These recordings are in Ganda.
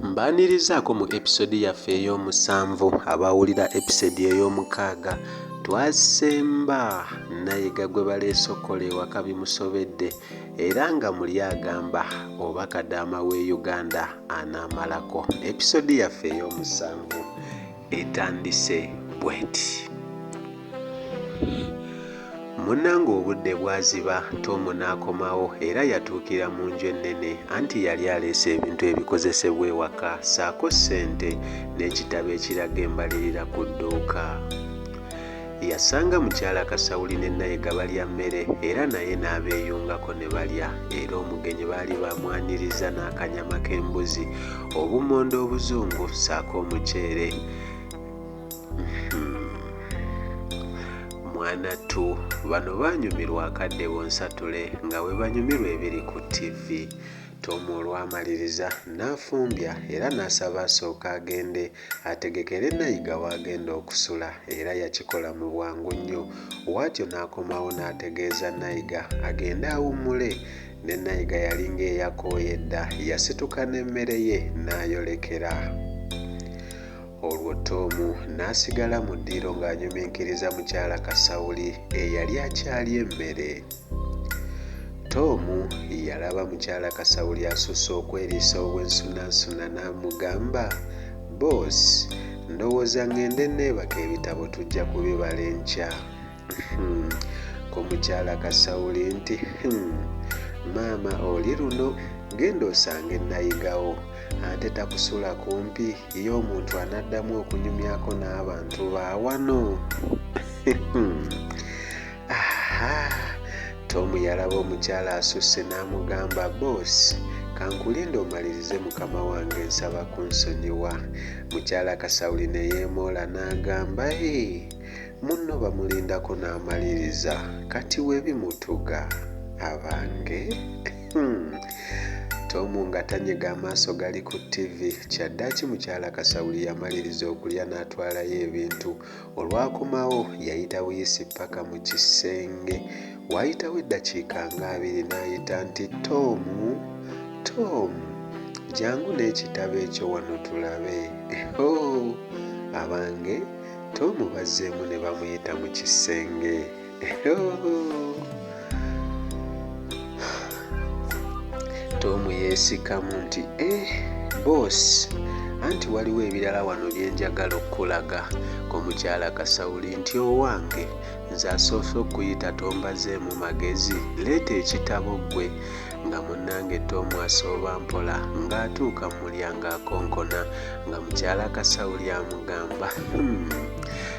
mbanirizaako mu episode yaffe ey'omusanvu abawulira episode ey'omukaaga twasemba nayiga gwe baleesokola ewaka bimusobedde era nga muli agamba oba kadaama w'e uganda anaamalako episode yaffe ey'omusanvu etandise bweti munange obudde bwaziba tomu n'akomawo era yatuukira mu nju ennene anti yali aleese ebintu ebikozesebwa ewaka saako ssente n'ekitabo ekiraga embalirira ku dduuka Yasanga mukyala Kasawuli ne Nayega balya mmere era naye n'abeeyungako ne balya era omugenyi baali bamwanirizza n'akanyama k'embuzi, obummonde obuzungu ssaako omuceere. mwana tu bano banyumirwa akadde bonsatule nga bwe banyumirwa ebiri ku ttivi. Tom olwamaliriza n'afumbya era n'asaba asooke agende ategekere Nayiga w'agenda okusula era yakikola mu bwangu nnyo waatyo n'akomawo n'ategeeza Nayiga agende awummule ne Nayiga yali ng'eyakooye dda yasituka n'emmere ye n'ayolekera olwo Toomu n'asigala mu ddiiro ng'anyuminkiriza mukyala Kasawuli eyali akyalya emmere. Tom yalaba mukyala Kasawuli asusse okweriisa obwensunansuna n'amugamba, Boss, ndowooza ng'ende neebaka ebitabo tujja kubibala enkya. Hmm, ko mukyala Kasawuli nti, hmm, maama oli luno genda osange nayigawo ate takusula kumpi ye omuntu anaddamu okunyumyako n'abantu baawano. Hmm. aha tomu yalaba omukyala asusse n'amugamba boosi kankulinde omalirize mukama wange nsaba kunsonyiwa mukyala kasawuli ne yeemoola n'agamba e munno bamulindako n'amaliriza kati webimutuga abange hmm. tomu nga tanyega amaaso gali ku ttivi kyaddaki mukyala kasawuli yamaliriza okulya n'atwalayo ebintu Olwakomawo yayita buyisi paka mu kisenge. Waayitawo eddakiika nga abiri n'ayita nti, Tom! Tom! Jangu n'ekitabo ekyo wano tulabe. Hoo! Abange! Tom bazzeemu ne bamuyita mu kisenge. Tom yeesikamu nti eh, boss anti waliwo ebirala wano bye njagala okukulaga ku mukyala Kasawuli nti owange nze asoose okuyita tombaze mu magezi leeta ekitabo ggwe nga munnange Tom asooba mpola ng'atuuka mu mulyango akonkona nga mukyala Kasawuli amugamba hmm.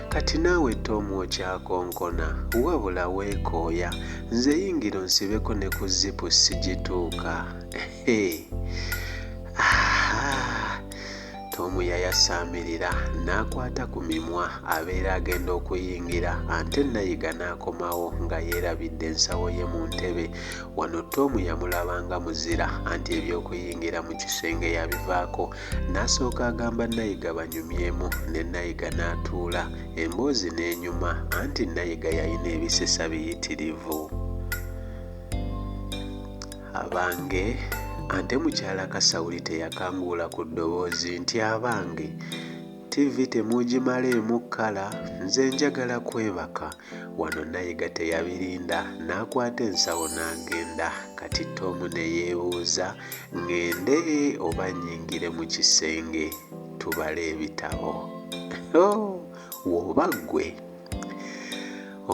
Kati naawe Tom okyakonkona? Wabula weekooya. Nze yingira onsibeko ne ku zipu sigituuka. Ehe. Ahaa. Tom yayasaamirira n'akwata ku mimwa abeera agenda okuyingira ante Nayiga n'akomawo nga yeerabidde ensawo ye mu ntebe. Wano Tom yamulabanga muzira anti eby'okuyingira mu kisenge yabivaako N'asooka agamba Nayiga banyumyemu ne Nayiga n'atuula, emboozi n'enyuma anti Nayiga yalina ebisesa biyitirivu. Abange! Ante mukyala Kasawuli teyakanguula ku ddoboozi nti, Abange! TV temugimareemu kala nze njagala kwebaka wano nayiga teyabirinda n'akwata ensawo n'agenda kati Tom ne yeebuuza ng'ende oba nnyingire mu kisenge tubale ebitabo oh, woba ggwe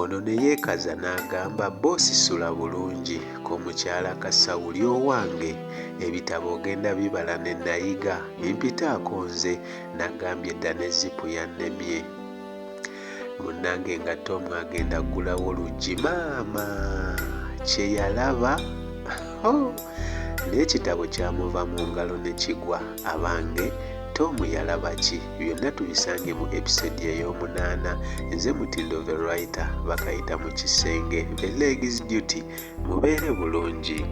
ono ne yeekaza n'agamba bosisula bulungi ko mukyala kasawuli owange ebitabo ogenda bibala ne nayiga bimpitaako nze nagambye dda ne zipu yannemye munnange nga tom agenda ggulawo luggi maama kye yalaba oh! n'ekitabo kyamuva mu ngalo ne kigwa abange tom yalaba ki byonna tubisange mu episode ey'omunaana nze mutindo the writer bakayita mu kisenge the legs duty mubeere bulungi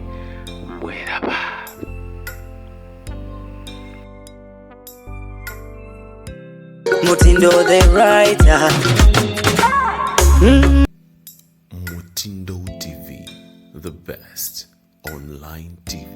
mweraba mutindo the writer mm. mutindo tv the best online tv